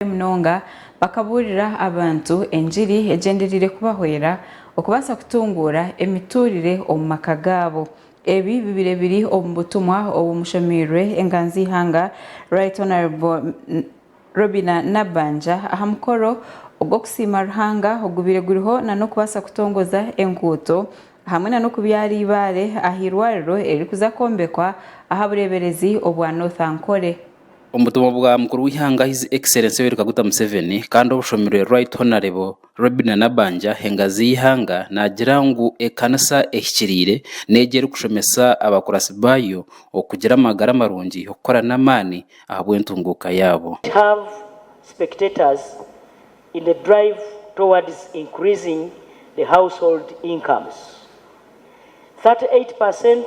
abarwaire munonga bakabuurira abantu engiri egyendereire kubahwera okubaasa kutunguura emituurire omu maka gaabo. Ebi bibaire biri omu butumwa obu mushomeirwe enganzi-ihanga Right Honourable Robina Nabbanja aha mukoro ogw'okusiima Ruhanga ogubaire guriho nana okubaasa kutongoza enguuto hamwe nana okubyaara eibaare aha eirwariro eririkuza kwombekwa aha bureeberezi obwa North Ankole. Omu butumwa bwa mukuru w'eihanga His Excellency Yoweri Kaguta Museveni kandi obushomirwe Right Honourable Robinah Nabbanja Hengazi y'eihanga naagira ngu ekanisa ehikiriire n'egyo erikushomesa abakuratsi baayo okugira amagara marungi, okukora n'amaani ahabw'entunguuka yaabo. It have spectators in the drive towards increasing the household incomes. Thirty eight per cent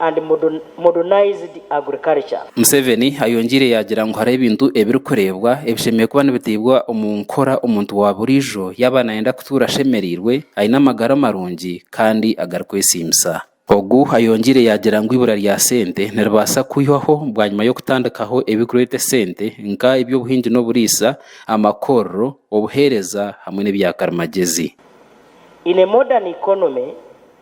and modernized agriculture. Museveni ayongyeire yaagira ngu hariho ebintu ebirikureebwa ebishemereire kuba nibitaibwa omu nkora omuntu wa buriijo yaaba naayenda kutuura ashemereirwe, aine amagara marungi kandi agarikwesiimisa. Ogu ayongyeire yaagira ngu eibura rya sente niribaasa kwihwaho bwanyima y'okutandikaho ebirikureeta esente nka eby'obuhingi n'oburiisa, amakorero, obuheereza hamwe n'ebya karimagyezi. In a modern economy,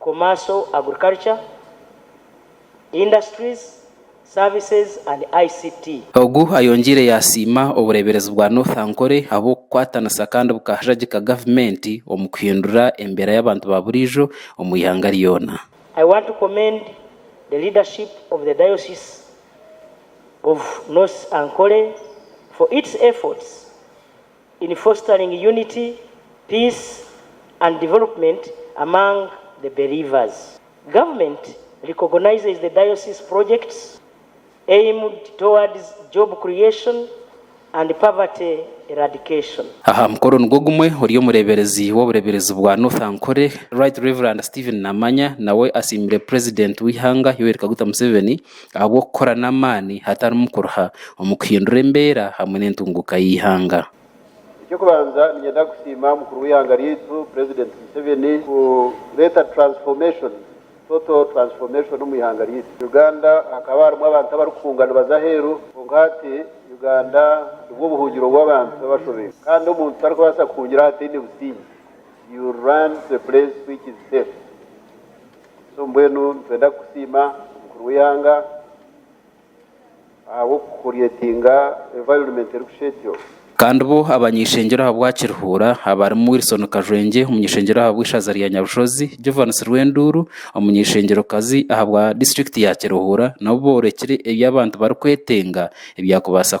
Commercial Agriculture, Industries, Services and ICT. Ogu ayongiire yasiima obureeberezi bwa North Ankole ahabw'okukwatanisa kandi bukahajagika gavumenti omu kuhindura embeera y'abantu ba buriijo omu ihanga ryona. I want to commend the leadership of the Diocese of North Ankole for its efforts in fostering unity, peace and development among the believers. Government recognizes the diocese projects aimed towards job creation and poverty eradication. Aha mukoro nigwo gumwe ori omureeberezi w'obureeberezi bwa North Ankole, Right Rev. Stephen Namanya nawe asiimire Purezidenti w'eihanga Yoweri Kaguta Museveni, ahabw'okukora n'amaani hatarimu kuruha omu kuhindura embeera hamwe n'entunguuka y'eihanga. Eky'okubanza niinyenda kusiima mukuru w'eihanga ryaitu president Museveni kureeta transformation, total transformation omu ihanga ryaitu Uganda. Hakaba harimu abantu abarikuhunga nibaza aheeru kwonka hati Uganda nibwo buhungiro bw'abantu b'abashobeirwe kandi omuntu tarikubaasa kuhungira ahataine busingye, you will run to a place which is safe. So mbwenu nitwenda kusiima omukuru w'eihanga ahabw'okukuryetinga environment erikusha etyo. Kandi bo abany'eishengyero ahabwa Kirihuura abarimu Wilson Kajwengye omuny'eishengyero ahabwa eishaza rya Nyabushozi, Jovans Rwenduuru omuny'eishengyerokazi ahabwa district ya Kirihuura nabo boorekire ebi abantu barikwetenga ebyakubaasa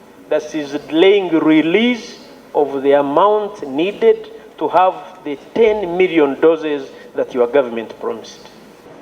Thus is delaying release of the amount needed to have the ten million doses that your government promised.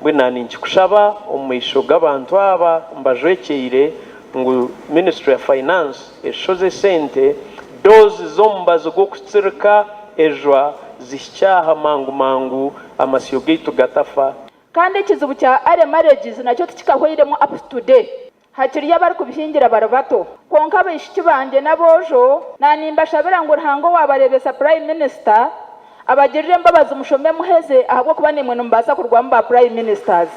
Mbwenu ninkikushaba omu maisho g'abantu aba mbajwekyeire ngu ministry ya finance eshoze esente dose z'omubazi gw'okutsirika ejwa zihikye aha mangu mangu amasyo gaitu gatafa. Kandi ekizibu kya early marriages nakyo tikikahweiremu up to today. Hakiriyo abarikubihingira bari bato. Kwonka abaishiki bangye n'aboojo, na nimbashabira ngu Ruhanga owaabareebesa Prime Minister, abagirire embabazi mushome muheze ahabw'okuba naimwe nimubaasa kurwamu ba Prime Ministers.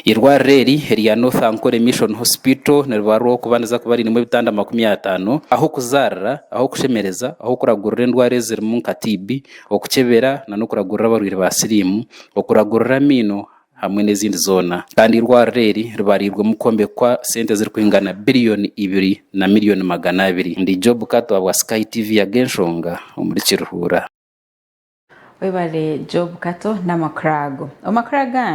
Eirwariro eri erya North Ankole Mission Hospital niribarwaho kuba niza kuba riinemu ebitanda makumi ataano, ah'okuzaarira, ah'okushemereza, ah'okuragurira endwara ezirimu nka TB, okukyebera na n'okuragurira abarwaire ba siriimu, okuragurira amaino, hamwe n'ezindi zoona kandi eirwariro eri ribariirwemu kwombekwa sente ezirikuhingana biriyoni ibiri na miriyoni magana abiri. Ndi Job Kato ahabwa Sky TV Ag'enshonga omuri Kiruhura. Webale Job Kato n'amakuru ago. Omu makuru agandi.